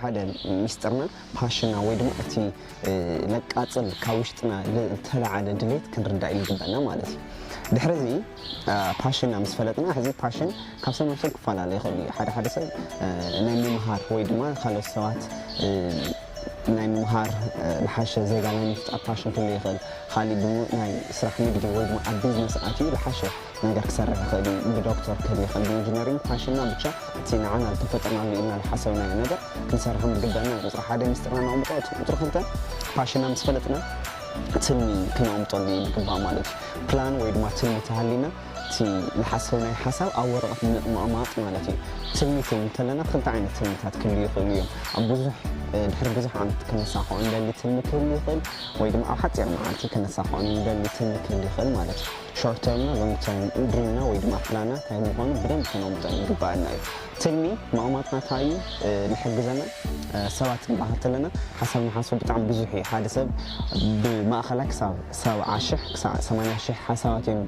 ሓደ ሚስጥርና ፓሽና ወይ ድማ እቲ ለቃጽል ካብ ውሽጥና ዝተላዓለ ድሌት ክንርዳእ ይግበእና ማለት እዩ ድሕሪ እዚ ፓሽና ምስ ፈለጥና ሕዚ ፓሽን ካብ ሰብ ናብ ሰብ ክፈላለ ይኽእል እዩ ሓደ ሓደ ሰብ ናይ ምምሃር ወይ ድማ ካልኦት ሰባት ናይ ምምሃር ልሓሸ ዜጋ ናይ ምፍጣር ፓሽን ክህሉ ይኽእል ኻሊ ናይ ስራሕ ንግዲ ወይ ድማ ኣብ ቢዝነስ ኣትዩ ልሓሸ ነገር ክሰርሕ ይኽእል እዩ። ብዶክተር ክህሊ ይኽእል፣ ብኢንጂነሪንግ፣ ፋሽንና ብቻ እቲ ንዓና ዝተፈጠርናሉ ኢልና ዝሓሰብናዮ ነገር ክንሰርሕን ብግደና እዩ። ቁፅሪ ሓደ ሚስጥርና ነቕምጦ፣ እቲ ቁፅሪ ክልተ ፓሽንና ምስ ፈለጥና ትልሚ ክነቕምጠሉ ይግባእ ማለት እዩ። ፕላን ወይ ድማ ትልሚ ተሃልዩና እቲ ዝሓሰብናዮ ሓሳብ ኣብ ወረቐት ምቕማጥ ማለት እዩ። ትልሚ ክብል እንተለና ክልተ ዓይነት ትልምታት ክህልዩ ይኽእሉ እዮም። ኣብ ብዙሕ ድሕሪ ብዙሕ ዓመት ክነሳኽዖ እንደሊ ትልሚ ክህሊ ይኽእል ወይ ድማ ኣብ ሓፂር መዓልቲ ክነሳኽዖ እንደሊ ትልሚ ክህሊ ይኽእል ማለት እዩ። ሾርት ተርምና ሎንግ ተርምና ድሪምና ወይ ድማ ፕላና ታይ ምኳኑ ብደንብ ከነውምጠን ይግበኣና እዩ ትልሚ ማኡማትና ታይ እዩ ልሕግዘና ሰባት ንባሃል ተለና ሓሳብ ንሓስብ ብጣዕሚ ብዙሕ እዩ ሓደ ሰብ ብማእኸላይ ክሳብ ሰብዓ ሽሕ ክሳዕ ሰማንያ ሽሕ ሓሳባት እዮም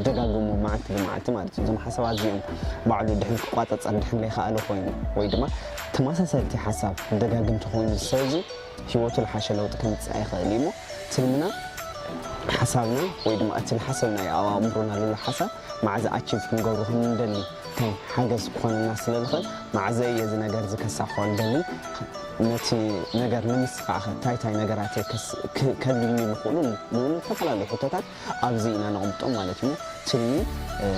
ደጋግሙ መዓልቲ ብመዓልቲ ማለት እዩ እዞም ሓሳባት እዚኦም ባዕሉ ድሕን ክቋፀፀር ድሕን ለይከኣለ ኮይኑ ወይ ድማ ተመሳሰልቲ ሓሳብ ደጋግምቲ ኮይኑ ዝሰብዚ ህይወቱ ልሓሸ ለውጢ ከምጽእ ኣይኸእል እዩ እሞ ትልምና ሓሳብና ወይ ድማ እቲ ልሓሰብናዮ ኣብ ኣእምሮና ልሎ ሓሳብ ማዕዘ ኣቺቭ ክንገብሮ ክንደሊ ከም ሓገዝ ክኾነና ስለ ልኸእል ማዕዘ እየ እዚ ነገር እዚ ከሳኽሖ ልደሊ ነቲ ነገር ንምስኻዕኸ ታይ ታይ ነገራት እየ ከድልዩኒ ልኽእሉ ንብሉ ልተፈላለዩ ሕቶታት ኣብዚ ኢና ነቕምጦም ማለት እዩ። ትልሚ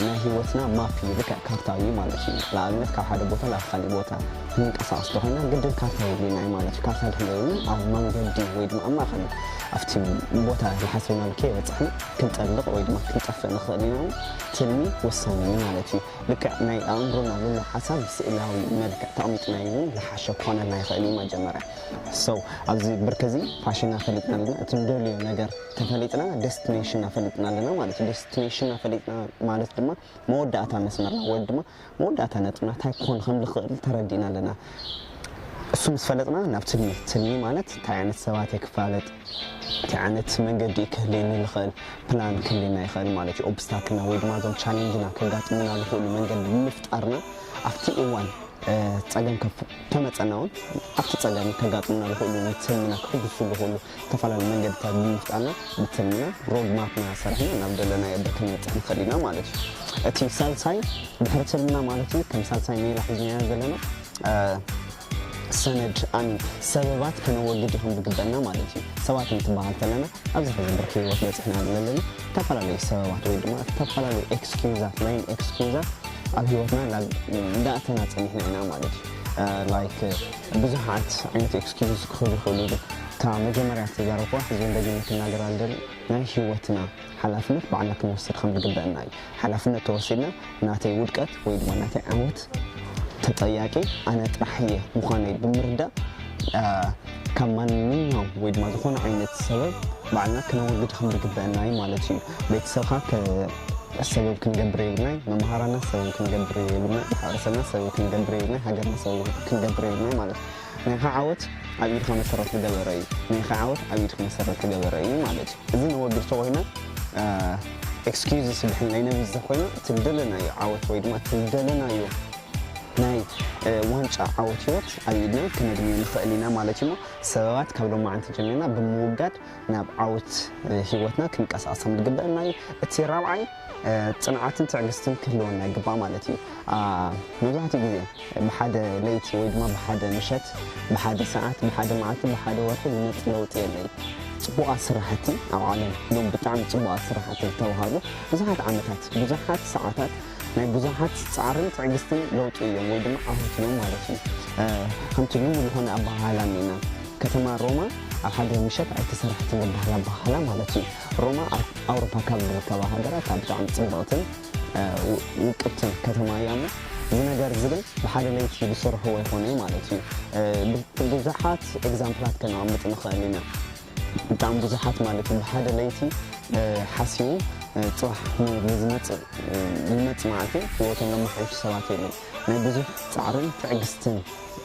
ናይ ህይወትና ማፕ እዩ፣ ልክዕ ካርታ እዩ ማለት እዩ። ንኣብነት ካብ ሓደ ቦታ ናብ ኻሊእ ቦታ ክንንቀሳቐስ እንተኾይና ግድን ካርታ የድልየና እዩ ማለት እዩ። ካርታ ድሕሪ ዘይብልና ኣብ መንገዲ ወይ ድማ ኣብ ማእኸል ኣብቲ ቦታ ዝሓሰብናሉ ከይበፃሕና ክንጠልቕ ወይ ድማ ክንጠፍእ ንኽእል ኢና እሞ ትልሚ ወሳኒ እዩ ማለት እዩ። ልክዕ ናይ ኣእምሮና ዘሎ ሓሳብ ብስእላዊ መልክዕ ተቕሚጥናዮ እውን ዝሓሸ ክኾነልና ይኽእል እዩ መጀመርያ። So ኣብዚ ብርኪ እዚ ፓሽንና ፈሊጥና ዲና እቲ ንደልዮ ነገር ተፈሊጥና ደስትኔሽን ኣፈሊጥና ኣለና ማለት እዩ። ደስትኔሽን ኣፈሊጥና ማለት ድማ መወዳእታ መስመርና ወይ ድማ መወዳእታ ነጥብና ታይ ክኾን ከም ዝኽእል ተረዲእና ኣለና። እሱ ምስ ፈለጥና ናብ ትልሚ ትልሚ ማለት ታይ ዓይነት ሰባት እየ ክፋለጥ ታይ ዓይነት መንገዲ እዩ ክህልየኒ ዝኽእል ፕላን ክህልየና ይኽእል ማለት እዩ። ኦብስታክልና ወይ ድማ እዞም ቻሌንጅና ከጋጥሙና ዝኽእሉ መንገዲ ብምፍጣርና ኣብቲ እዋን ፀገም ከፍ ተመፀና እውን ኣብቲ ፀገም ከጋጥሙና ዝኽእሉ ንትልምና ክሕጉሱ ዝኽእሉ ዝተፈላለዩ መንገድታት ብምፍጣርና ብትልምና ሮድ ማፕና ሰሪሕና ናብ ደለናዮ ዶ ክንበፅሕ ንኽእል ኢና ማለት እዩ። እቲ ሳልሳይ ድሕሪ ትልምና ማለት እዩ ከም ሳልሳይ ሜላ ሒዝናዮ ዘለና ሰነድ ኣሚን ሰበባት ከነወግድ ይኹን ዝግበእና ማለት እዩ። ሰባት እንትበሃል ተለና ኣብዚ ሕዚ ብርኪ ህይወት በፂሕና ዘለና ዝተፈላለዩ ሰበባት ወይ ድማ ዝተፈላለዩ ኤክስኪዩዛት ላይን ኤክስኪዩዛት ኣብ ህይወትና እንዳ ኣተና ፀኒሕና ኢና ማለት እዩ ላይክ ብዙሓት ዓይነት ኤክስኪውዝ ክህቡ ይኽእሉ ኢሉ እታ መጀመርያ ዝተዛረብኩዋ ሕጂ ውን ደጊመ ክናገራ ዝደሊ ናይ ሂወትና ሓላፍነት ባዕልና ክንወስድ ከም ዝግበእና እዩ ሓላፍነት ተወሲድና ናተይ ውድቀት ወይ ድማ ናተይ ዓወት ተጠያቂ ኣነ ጥራሕ እየ ምዃነይ ብምርዳእ ካብ ማንኛውም ወይ ድማ ዝኾነ ዓይነት ሰበብ ባዕልና ክነወግድ ከም ዝግበእና እዩ ማለት እዩ። ቤተሰብካ ከ ሰበብ ክንገብር የብልናይ መምሃራና ሰበብ ክንገብር የብልናይ ማሕበረሰብና ሰበብ ክንገብር የብልናይ ሃገርና ሰበብ ክንገብር የብልናይ ማለት እዩ ናይካ ዓወት ኣብ ኢድካ መሰረት ዝገበረ እዩ ናይካ ዓወት ኣብ ኢድካ መሰረት ዝገበረ እዩ ማለት እዩ እዚ ነወግድ ተኮይና ኤክስኪዩዝ ስብሕን ናይ ነቢ ዘኮይና ትደለናዮ ዓወት ወይ ድማ ትደለናዮ ናይ ዋንጫ ዓወት ህይወት ኣብ ኢድና ክነግንዮ ንኽእል ኢና ማለት እዩ እሞ ሰበባት ካብ ሎማዓንቲ ጀሚርና ብምውጋድ ናብ ዓውት ሂወትና ክንቀሳቀስ ከም ዝግበእና እዩ እቲ ራብዓይ ጽንዓትን ትዕግስትን ክህልወና ይግባእ ማለት እዩ መብዛሕትኡ ግዜ ብሓደ ለይቲ ወይ ድማ ብሓደ ምሸት ብሓደ ሰዓት ብሓደ መዓልቲ ብሓደ ወርሒ ዝመጽእ ለውጢ የለን ጽቡቓት ስራሕቲ ኣብ ዓለም ሎም ብጣዕሚ ጽቡቓት ስራሕቲ ዝተውሃቡ ብዙሓት ዓመታት ብዙሓት ሰዓታት ናይ ብዙሓት ጻዕርን ትዕግስትን ለውጢ እዮም ወይ ድማ ዓወት እዮም ማለት እዩ። ከምቲ ልሙድ ዝኾነ ኣበሃህላ እኒኤና ከተማ ሮማ ኣብ ሓደ ምሸት ኣይተሰረሐትን ዝበሃል ኣበሃህላ ማለት እዩ። ሮማ ኣብ ኣውሮፓ ካብ ዝርከባ ሃገራት እታ ብጣዕሚ ጽብቕትን ውቅብትን ከተማ እያ እሞ እዚ ነገር እዚ ግን ብሓደ ለይቲ ዝስርሕዎ ኣይኮነይ ማለት እዩ። ብዙሓት ኤግዛምፕላት ከነቐምጥ ንኽእል ኢና። ብጣዕሚ ብዙሓት ማለት ብ ሓደ ለይቲ ሓስዩ ፅባሕ ንዝመፅእ ልመፅ መዓልቲ ሂወቶም ለማሓይሹ ሰባት የለን ናይ ብዙሕ ፃዕርን ትዕግስትን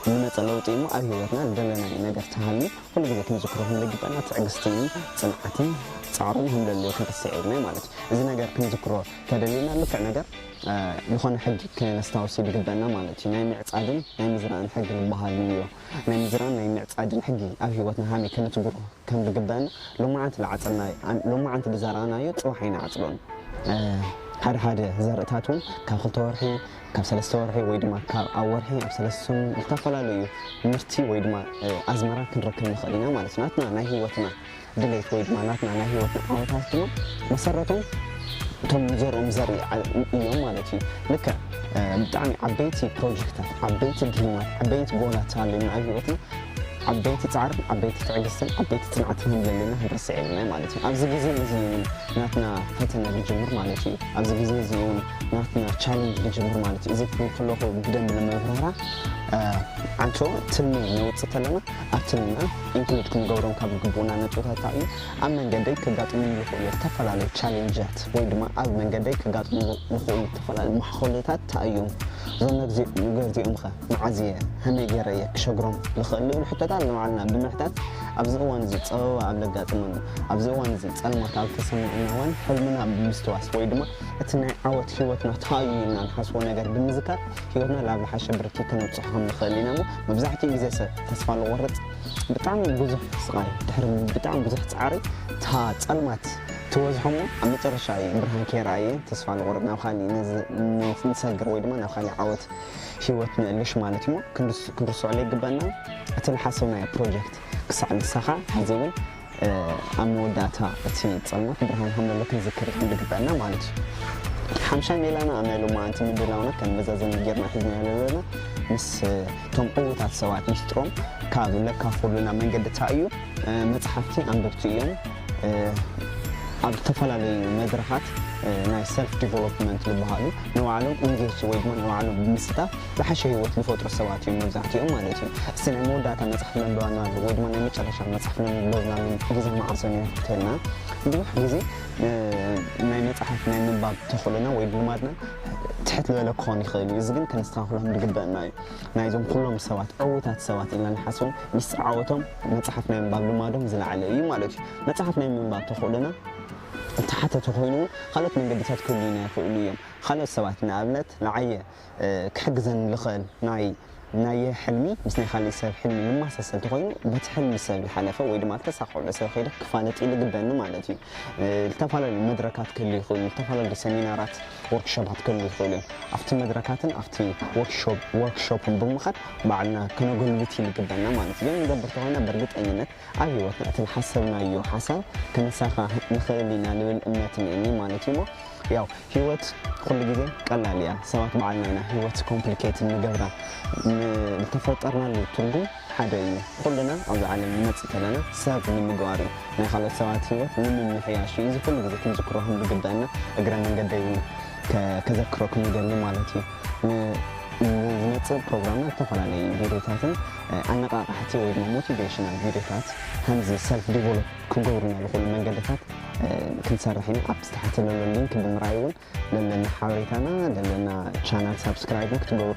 ልመፀ ለውጢ እሞ ኣብ ሂወትና ልደለናዮ ነገር ተሃልዩ ኩሉ ግዜ ክንዝክሮ ክንልግበና ትዕግስትን ፅንዓትን ፃዕርን ህምለልዮ ክንርስዕ የብልናይ ማለት እዩ እዚ ነገር ክንዝክሮ ተደሊና ልክዕ ነገር ልኾነ ሕጊ ክነስታውሲ ልግበና ማለት እዩ ናይ ምዕፃድን ናይ ምዝራእን ሕጊ ልባሃል ልዮ ናይ ምዝራን ናይ ምዕጻድን ሕጊ ኣብ ህይወትና ሃመይ ከነትግሮ ከም ዝግበእና ሎማዓንቲ ልዓጸናዮ ሎማዓንቲ ልዘራእናዮ ጽባሕ ኣይንዓጽዶን። ሓደ ሓደ ዘርእታት እውን ካብ ክልተ ወርሒ ካብ ሰለስተ ወርሒ ወይ ድማ ካብ ኣብ ወርሒ ኣብ ሰለስተ ሰሙን ዝተፈላለዩ ምርቲ ወይ ድማ ኣዝመራ ክንረክብ ንኽእል ኢና ማለት እዩ። ናትና ናይ ህይወትና ድሌት ወይ ድማ ናትና ናይ ህይወትና ዓወታት ድማ መሰረቶም እቶም ንዘርኦም ዘርኢ እዮም ማለት እዩ ልክዕ ብጣዕሚ ዓበይቲ ፕሮጀክታት ዓበይቲ ድልማት ዓበይቲ ጎላት ተሃልዩና ኣብ ህይወትና ዓበይቲ ፃዕርን ዓበይቲ ትዕግስትን ዓበይቲ ፅንዓትን ከም ዘለና ክንርስዕ የብልና ማለት እዩ ኣብዚ ግዜ እዚ እውን ናትና ፈተነ ዝጅምር ማለት እዩ ኣብዚ ግዜ እዚ እውን ናትና ቻለንጅ ዝጅምር ማለት እዩ እዚ ክብል ከለኹ ብደንብ ንምብራራ ዓንቶ ትልሚ ነውፅእ ተለና ኣብ ትምና ኢንክሉድ ክንገብሮም ካብ ዝግብኡና ነጥብታት እንታይ እዩ? ኣብ መንገደይ ከጋጥሙኒ ዝኽእሉ ዝተፈላለዩ ቻሌንጃት ወይ ድማ ኣብ መንገደይ ከጋጥሙ ዝኽእሉ ዝተፈላለዩ መሓኹልታት እንታይ እዮም? እዞም ነገርዚ እዚኦምኸ መዓዝ እየ ከመይ ገይረ እየ ክሸግሮም ዝኽእል ዝብሉ ሕቶታት ንባዕልና ብምሕታት ኣብዚ እዋን እዚ ጸበባ ኣብ ዘጋጥመሉ ኣብዚ እዋን እዚ ጸልማት ኣብ ዝተሰምዓና እዋን ሕልምና ብምስትዋስ ወይ ድማ እቲ ናይ ዓወት ህይወትና እንታይ እዩ ኢልና ንሓስቦ ነገር ብምዝካር ህይወትና ናብ ዝሓሸ ብርኪ ከነብጽሖ ከም ንኽእል ኢና እሞ መብዛሕትኡ ግዜ ሰብ ተስፋ ልቆርጽ ብጣዕሚ ብዙሕ ስቃይ ድሕሪ ብጣዕሚ ብዙሕ ጻዕሪ እታ ጸልማት ትበዝሖ እሞ ኣብ መጨረሻ እዩ ብርሃን ከይረኣየ ተስፋ ንቆርጽ ናብ ካሊእ ንሰግር ወይ ድማ ናብ ካሊእ ዓወት ሂወት ንእልሽ ማለት እሞ ክንርስዖ ዘይግበኣና እቲ ልሓሰብናዮ ፕሮጀክት ክሳዕ ልሳካ ሕዚ እውን ኣብ መወዳእታ እቲ ጸልማት ብርሃን ሃመሉ ክንዝክር ይሕንዲ ግበኣና ማለት እዩ። እቲ ሓምሻይ ሜላና ኣብ ናይ ሎማዓንቲ ምድላውና ከም መዛዘሚ ጌርና ሒዝናዮ ዘለና ምስ እቶም ዕዉታት ሰባት ሚስጥሮም ካብ ለካፍሉና መንገድታ እዩ። መጽሓፍቲ ኣንበብቲ እዮም። ኣብ ዝተፈላለዩ መድረኻት ናይ ሰልፍ ዲቨሎፕመንት ዝበሃሉ ንባዕሎም ኢንጌጅ ወይ ድማ ንባዕሎም ብምስታፍ ዝሓሸ ህይወት ዝፈጥሩ ሰባት እዮም መብዛሕቲኦም ማለት እዩ። እስቲ ናይ መወዳእታ መጽሓፍ መንበባና ኣሎ ወይ ድማ ናይ መጨረሻ መጽሓፍ ነንበብናሉን ግዜ መዓሶን እዩ ክትህልና ብዙሕ ግዜ ናይ መጽሓፍ ናይ ምንባብ ተኽእሎና ወይ ልማድና ትሕት ዝበለ ክኾን ይኽእል እዩ። እዚ ግን ከነስተኻኽሎም ዝግበእና እዩ። ናይዞም ኩሎም ሰባት ዕውታት ሰባት ኢልና ንሓስቦም ምስ ዓወቶም መጽሓፍ ናይ ምንባብ ልማዶም ዝለዓለ እዩ ማለት እዩ። መጽሓፍ ናይ ምንባብ ተኽእሎና እተሓተተ ኮይኑ እውን ካልኦት መንገድታት ክህልዩና ይኽእሉ እዮም። ካልኦት ሰባት ንኣብነት ንዓየ ክሕግዘኒ ልኽእል ናይ ናየ ሕልሚ ምስ ናይ ኻሊእ ሰብ ሕልሚ ልማሳሰል ተኾይኑ በቲ ሕልሚ ሰብ ልሓለፈ ወይ ድማ ልተሳኽዑሉ ሰብ ኸይደ ክፋለጥ ልግበኒ ማለት እዩ። ልተፋላለዩ መድረካት ክህሉ ይኽእሉ ልተፋላለዩ ሰሚናራት ወርክሾባት ክህሉ ይኽእሉ እዮም። ኣፍቲ መድረካትን ኣፍቲ ወርክሾፕን ብምኻድ ባዕልና ከነጎልብት እዩ ልግበና ማለት እዩ። ግን ንገብር ተኾይና በርግጠኝነት ኣብ ህይወትና እቲ ዝሓሰብናዮ ሓሳብ ክንሳኻ ንኽእል ኢና ልብል እምነት እኒኤኒ ማለት እዩ እሞ ያው ህይወት ኩሉ ግዜ ቀላል እያ ሰባት ባዕልና ኢና ህይወት ኮምፕሊኬት እንገብራ ዝተፈጠርናሉ ትርጉም ሓደ እዩ ኩልና ኣብዚ ዓለም ንመፅእ ተለና ሰብ ንምግባር እዩ ናይ ካልኦት ሰባት ህይወት ንምምሕያሽ እዩ እዚ ኩሉ ግዜ ክንዝክሮ ከም ዝግበእና እግረ መንገደይ እውን ከዘክረኩም ይደሊ ማለት እዩ ንዝመፅእ ፕሮግራምና ዝተፈላለዩ ቪድዮታትን ናይ ኣነቓቓሕቲ ወይ ድማ ሞቲቬሽናል ቪድዮታት ከምዚ ሰልፍ ዲቨሎፕ ክገብሩና ዝኽእሉ መንገድታት ክንሰርሕ ኢና። ኣብቲ ታሕቲ ዘሎ ሊንክ ብምርኣይ እውን ለለና ሓበሬታና ለለና ቻናል ሳብስክራይብ ክትገብሩ